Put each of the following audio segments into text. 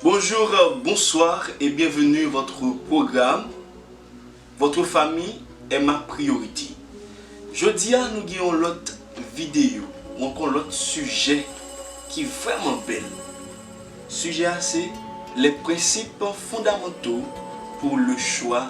Bonjour, bonsoir et bienvenue votre programme votre famille est ma priorité. Jodi a nou gen yon lòt videyo, ou ankò lòt sijè ki vrèman bèl. Sijè a se les principes fondamentaux pour le choix.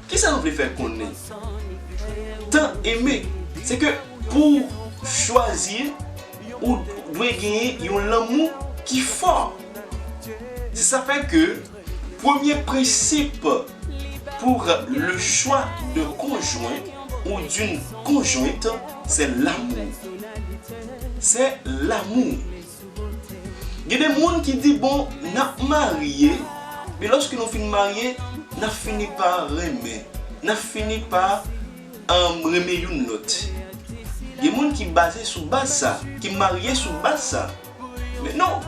Kisa nou vle fè konnen tan eme se ke pou w chwazi ou dwe genyen yon lanmou ki fò. Se sa fè ke premye prensip pour le choix d'un conjoint ou d'une conjointe se l'amour. Se l'amour. Gen de moun ki di bon nap marye men loske nou fin marye nap fini pa renmen nap fini pa renmen youn lòt gen moun ki baze sou baz sa ki marye sou baz sa men non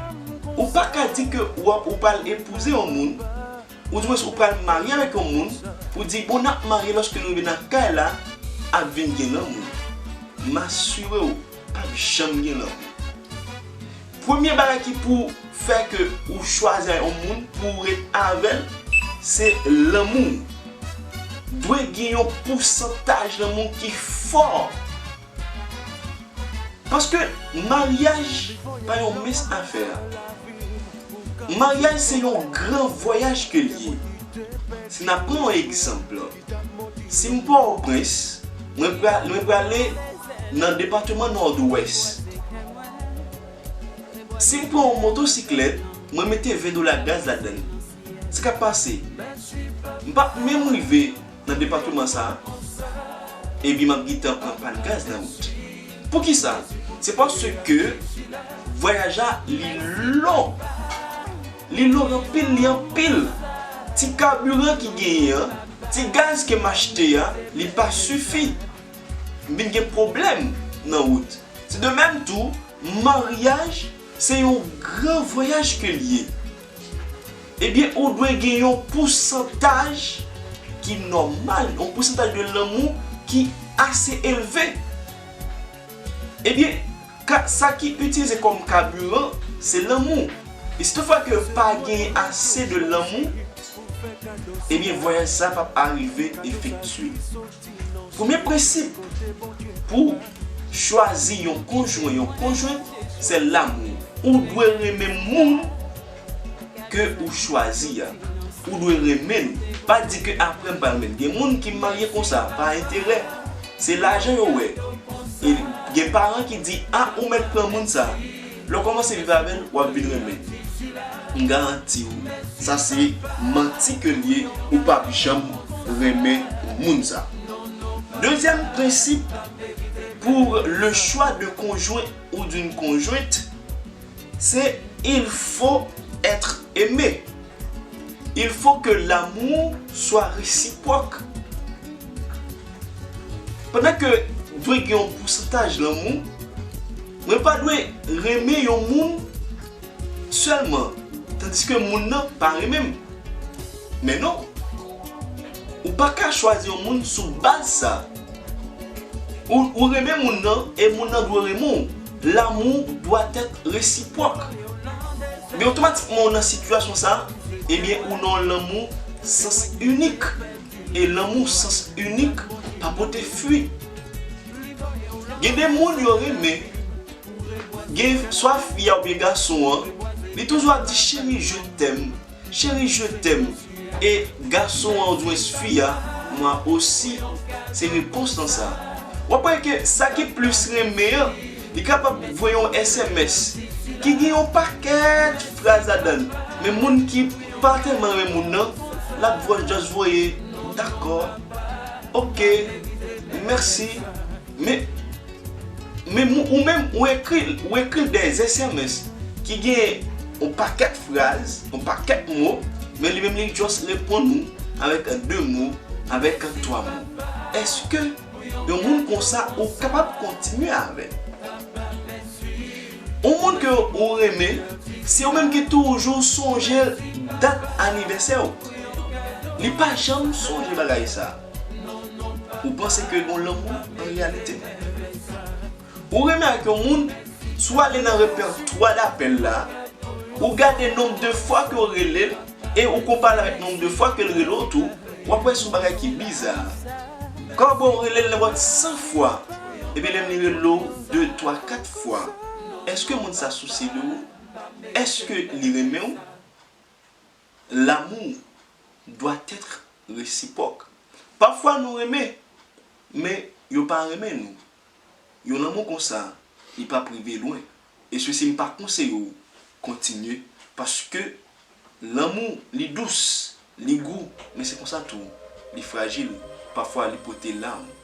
ou pa ka di ke ou pral epouze yon moun ou di mwen ou pral marye avèk yon moun pou di bon nap marye loske nou rive nan kay la ap vin gen lanmou m asire w. pap janm gen lanmou. Premye bagay ki pou fè ke ou chwazi a yon moun pou ou ret avèl se lanmou. Dwe gen yon pousantaj lanmou ki fò. Paske maryaj pa yon mens afè. Maryaj se yon gran vwayaj ke li ye. Si na pran yon egzanp. Si m Pòtoprens, mwen prale nan depatman Nòdwès. Si m pran yon motosiklèt, mwen mete 20 dola gaz ladan l. Sa k ap pase? M p ap menm rive nan depatman sa a, epi m ap gentan pran pàn gaz nan wout. Poukisa? Se paske vwayaj la li long. Li log anpil li anpil. Ti carburant ki genyen an, ti gaz ke m achte a, li pa sifi. M vin gen pwoblèm nan wout. Se de mèm tou, maryaj se yon gran vwayaj ke l ye. Ebyen ou dwe gen yon pousantaj ki nòmal, yon pousantaj de lanmou ki ase elve. Ebyen Ka sa ki utilize kom kaburan se lanmou e si tout fwa ke pa genyen ase de lanmou ebyen vwayaj sa pap arive efektye. Premye prensip pou chwazi yon konjwen, yon konjwent se lanmou. Ou dwe renmen moun ke ou chwazi a ou dwe renmenn pa di ke aprè m pa renmenn gen moun ki marye konsa pa enterè se lajan yo wè e gen paran ki di a ou mèt pran moun sa lè w kòmanse viv avèl wap vin renmenn m garanti w sa se manti ke l ye ou pap janm renmen moun sa dezyèm prensip pou le chwa de konjwen ou d'une conjointe. Se il faut etre aime, il faut que l'amour soit reciproque. Pandan ke dwe gen yon pousantaj lanmou, mwen pa dwe renmen yon moun sèlman tandiske moun nan pa renmen m. Men non, ou pa ka chwazi yon moun sou baz sa. Ou renmen moun nan e moun nan dwe renmen w. Lanmou dwa tèt resipwòk. Men otomatikman ou nan sitiyasyon sa, ebyen ou nan yon lanmou sans inik. E lanmou sans inik pa pote fwi. Gen de moun yo renmen, gen swa fi a oubyen gason an, li toujou ap di cheri je t'aime. Chérie je t'aime e gason an oudjwens fi a moi aussi se repons lan sa. Wap wè ke sa ki plis renmen an li kapab voye yon sms ki gen yon pakèt fraz ladann men moun ki pa tèlman renmen moun nan lap vwa just voye dakò ok mèsi men Men ou menm ou ekri l, ou ekri l dè sms ki gen yon pakèt fraz, yon pakèt mo, men li menm li just reponn ou avèk 2 mo, avèk 3 mo. Eske yon moun konsa ou kapab kontinye avè l? Yon moun ke ou renmen, se ou menm ki toujou sonje dat anivèsè ou. Li pa janm sonje bagay sa. Ou panse ke yon lanmou an reyalite? Ou renmen ak yon moun, si w ale nan repètwa dapèl la, ou gade nonb de fwa ke w rele l e ou konpare l avèk nonb de fwa ke l rele w tou, w ap wè se yon bagay ki biza. Ka bo w rele l nenpòt 100 fwa, epi menm li rele w de twa kat fwa, èske moun sa sousye de ou? Èske li renmen w? L'amour doit être réciproque. Pafwa nou renmen, men yo pa renmen nou. Yon lanmou konsa, li p'ap rive lwen. E se si m'pa konseye ou kontinye, paske lanmou li dous, li gou, men se konsa tou li frajil, pafwa li pote lam.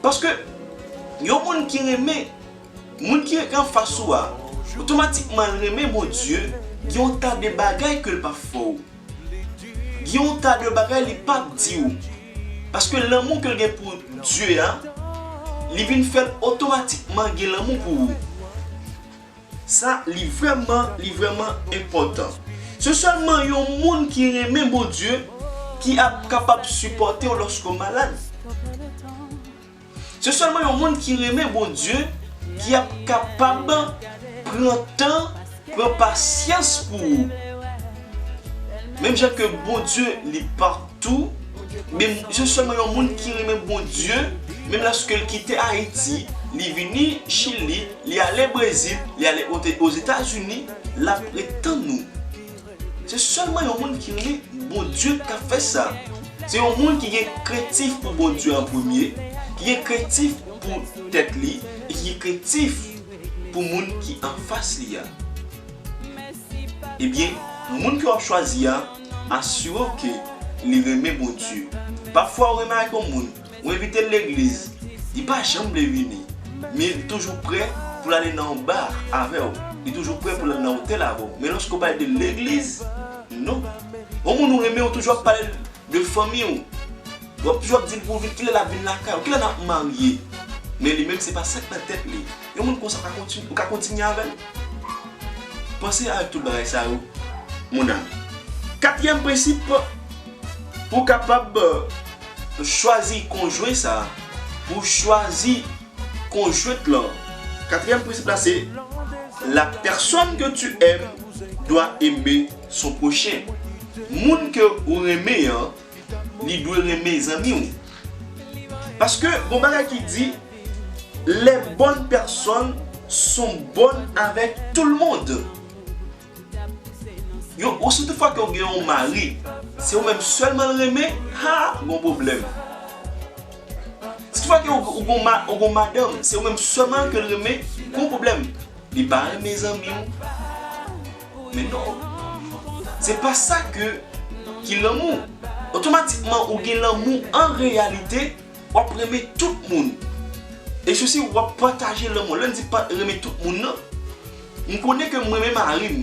Paske, yon moun ki renmen moun ki rete anfas ou a, otomatikman l renmen Bondye, gen yon ta de bagay ke l p ap fè w. Gen yon ta de bagay li p ap di w. Paske lanmou ke l gen pou Dye a, li vin fè l otomatikman gen lanmou pou ou. Sa li vrèman li vrèman enpòtan. Se sèlman yon moun ki renmen Bondye ki ap kapab sipòte w lòske w malad. Se sèlman yon moun ki renmen Bondye ki ap kapab pran tan, pran pasyans pou ou. Menm jan ke Bondye li patou, menm se sèlman yon moun ki renmen Bondye, menm lòske l kite Ayiti, li vini Chili, Li ale Brezil, li ale Ozetazini, lap ret tann nou. Se sèlman yon moun ki renmen Bondye k ap fè sa. Se yon moun ki gen krentif pou Bondye an premye, ki gen krentif pou tèt li e ki gen krentif pou moun ki anfas li a. Ebyen, moun ke w ap chwazi a, asire w ke li renmen Bondye. Pafwa ou remarke yon moun. Ou envitel legliz li pa janm vle vini men li toujou prè poul ale nan yon bar avèw li toujou prè poul al nan otèl avèw men loske ou pale de legliz non yon moun ou renmen ou toujou ap palel de fanmiw wap toujou ap dil pou vin kilè lap vin lakay ou kilè nap marye men li menm se pa sak nan tèt li yon moun konsa ou ka kontinye avèl panse avèk tout bagay sa yo mon ami katriyèm prensip ou kapab Pou chwazi konjwen sa a, pou chwazi konjwent lan. Katriyèm prensip la se, La personne que tu aimes doit aimer son prochain. Moun ke ou renmen an, li dwe renmen zanmi ou. Paske gon bagay ki di, Les bonnes personnes sont bonnes avec tout le monde. Yo ou si tout fwa ke ou gen yon mari se ou menm selman l renmen haa gon pwoblem si tout fwa ke ou gon madanm se ou menm selman ke l renmen gon pwoblem li pa renmen zanmi w men non se pa sa ke ki lanmou otomatikman ou gen lanmou an reyalite w ap renmen tout moun e sousi w ap pataje lanmou lè m di renmen tout moun nan. M konnen ke m renmen mari m.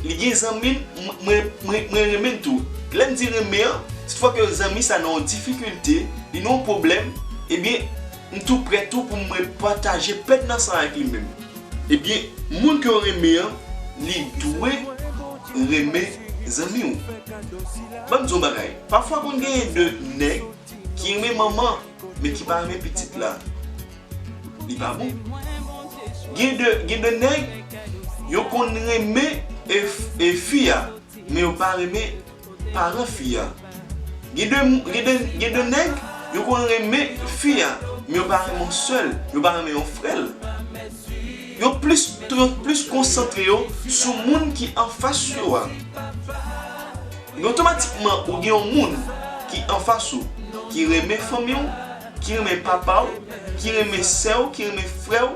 Li gen zanmi l, mwen renmen l tou. Lè m di renmen an, si toufwa ke zanmi sa nan yon difikilte, li nan yon pwoblèm, ebyen, m tou prè tou pou mwen pataje pèn nan san avèk li menm. Ebyen, moun ke w renmen an, li dwe renmen zanmi w. Ban m di w yon bagay, pafwa konn genyen de nèg ki renmen manman, men ki pa renmen pitit la. Li pa bon. Gen de gen de nèg yo konn renmen e fi a men yo pa renmen paran fi a. Gen de gen de gen de nèg yo konn renmen fi a men yo pa renmen yon sè l, yo pa renmen yon frè l. Yo plis yo plis konsantre yo sou moun ki anfas yo a. Men otomatikman ou gen yon moun ki anfas ou ki renmen fanmi w. Ki renmen papa w, ki renmen sè w, ki renmen frè w,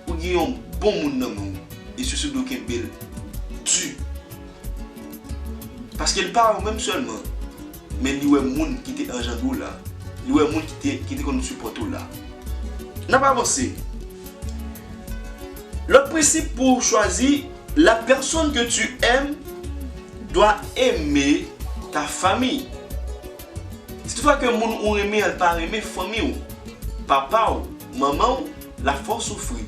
ou gen yon bon moun nan men w e sousou dwe kenbe l di. Paske li pa wè ou menm sèlman, men li wè moun ki te anjandre w la, li wè moun ki te konn sipòte w la. N ap avanse. Lòt prensip pou ou chwazi, La personne que tu aimes doit aimer ta famille. Si tout fwa ke moun ou renmen an pa renmen fanmi ou, papa ou, manman ou, lap fè w soufri.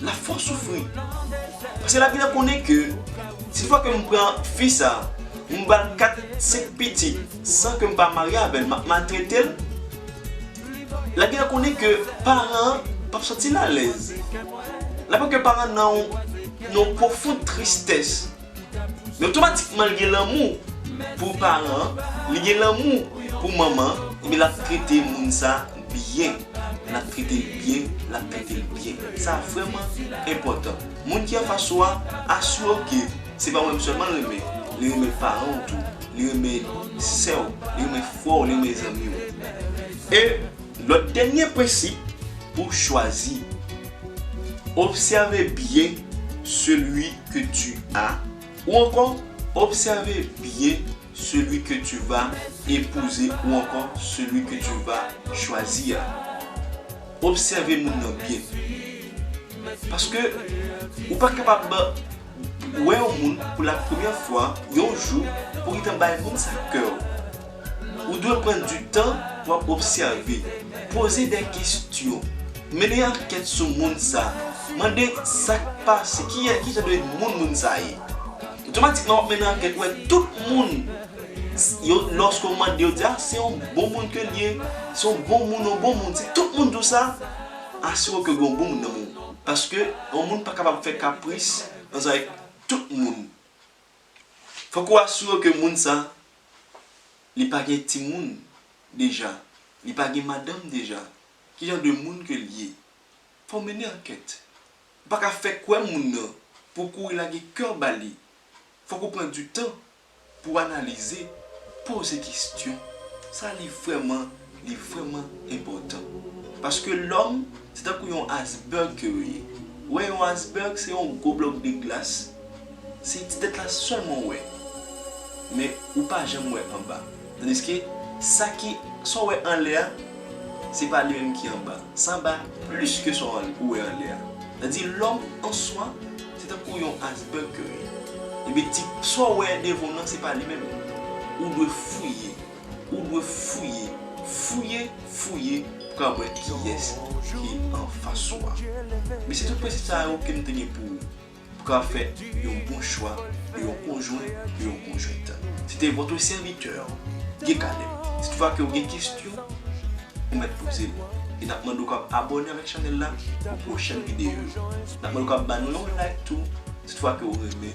Lap fè w soufri. Paske lap gentan konnen ke si tout fwa ke m pran fi sa, m ba l 4, 5 pitit san ke m pa marye avè l, map maltrete l. Lap gentan konnen ke paran an pap santi l alèz. Lap wè ke paran nan yon pwofond tristès. Men otomatikman li gen lanmou pou paran an, li gen lanmou pou manman an, ebyen lap trete moun sa byen, lap trete l byen, lap trete l byen. Sa vrèman enpòtan. Moun ki anfas ou a, asire w ke se pa ou menm sèlman l renmen, li renmen paran w tou, li renmen sè w, li renmen frè w, li renmen zanmi w. E lòt dènye prensip pou chwazi, obsève byen selui que tu as ou ankò Obsève byen celui que tu vas épouser ou ankò celui que tu vas choisir a. Obsève moun nan byen. Paske ou pa kapab wè yon moun pou la premyè fwa yon jou pou ou gentan bay moun sa kè ou. Ou dwe pran di tan pou ap obsève, poze de kestyon, mennen ankèt sou moun sa, mande sa k pase, ki jan de moun moun sa ye. Otomatikman w ap mennen ankèt wè tout moun yo lòske w mande yo di a se yon bon moun ke l ye, se yon bon moun, yon bon moun. Si tout moun di w sa, asire w ke gen yon bon moun nan men w. Paske yon moun pa kapab fè kapris ansanm avèk tout moun. Fòk ou asire w ke moun sa li pa gen timoun deja, li pa gen madanm deja, ki jan de moun ke li ye. Fò w mennen ankèt. Ou pa ka fè kwè moun nan pou w kouri lage kè w ba li. Fòk ou pran di tan pou w analize, poze kestyon, sa li vrèman. Li vreman enpotan. Paske lom se tankou yon asberg ke yo ye. Ou we yon asberg se yon gwo blok de glas. Se ti tet la selman ou we. Men ou pa janm we anba. Tandiske sa ki, sa ou we anle a, se pa li menm ki anba. Sa anba plis ke sa ou we anle a. Sa di lom an swa se tankou yon asberg ke yo ye. Ebyen ti sa ou we devan ou nan se pa li menm. Ou dwe fouye. Ou dwe fouye, fouye, fouye pou ka wè kiyès ki anfas ou a. Men se tout prensip sa yo ke nou te gen pou pou ka fè yon bon chwa de yon konjwen, de yon konjwent. Se te votre serviteur Guy Caleb. Si toutfwa ke ou gen kestyon, ou mèt poze l. E nap mande w kab abòne avèk chanèl la pou pwochèn videyo yo. Nap mande w kab ba nou yon like tou si toutfwa ke ou renmen.